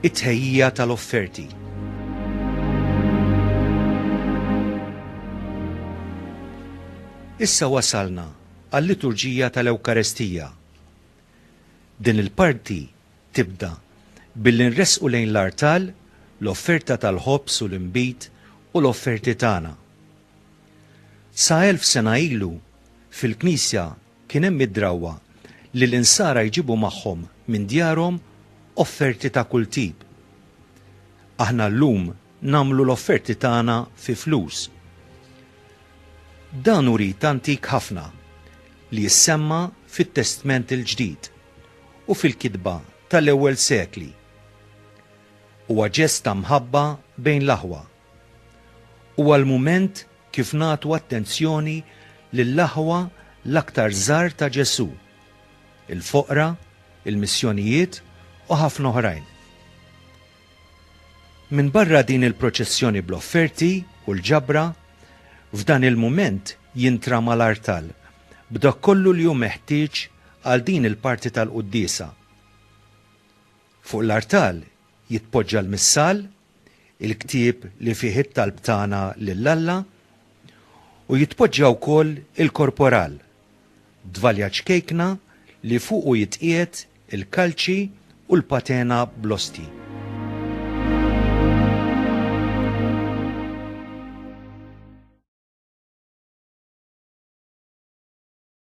It-tħejjija tal-offerti. Issa wasalna għal-liturġija tal-Ewkarestija. Din il-parti tibda billi nresqu lejn l-artal l-offerta tal-ħobż u l-inbid u l-offerti tagħna. Sa elf sena ilu, fil-Knisja kien hemm id-drawwa li l-insara jġibu magħhom minn djarhom offerti ta' kull tip. Aħna llum nagħmlu l-offerti tagħna fi flus. Dan hu rit antik ħafna li jissemma fit-Testment il-Ġdid u fil-kitba tal-ewwel sekli. Huwa ġest ta' mħabba bejn l-aħwa. Huwa l-mument kif nagħtu attenzjoni lill-aħwa l-aktar żgħar ta' Ġesù, il-foqra, il-missjonijiet u ħafna oħrajn. Minbarra din il-proċessjoni bl-offerti u l-ġabra, f'dan il-mument jintrama l-artal b'dak kollu li hu meħtieġ għal din il-parti tal-quddiesa. Fuq l-artal jitpoġġa l-missal, il-ktieb li fih it-talb tagħna lil Alla, u jitpoġġa wkoll il-korporal, dvalja ċkejkna li fuqu jitqiegħed il-kalċi u l-patena bl-ostji.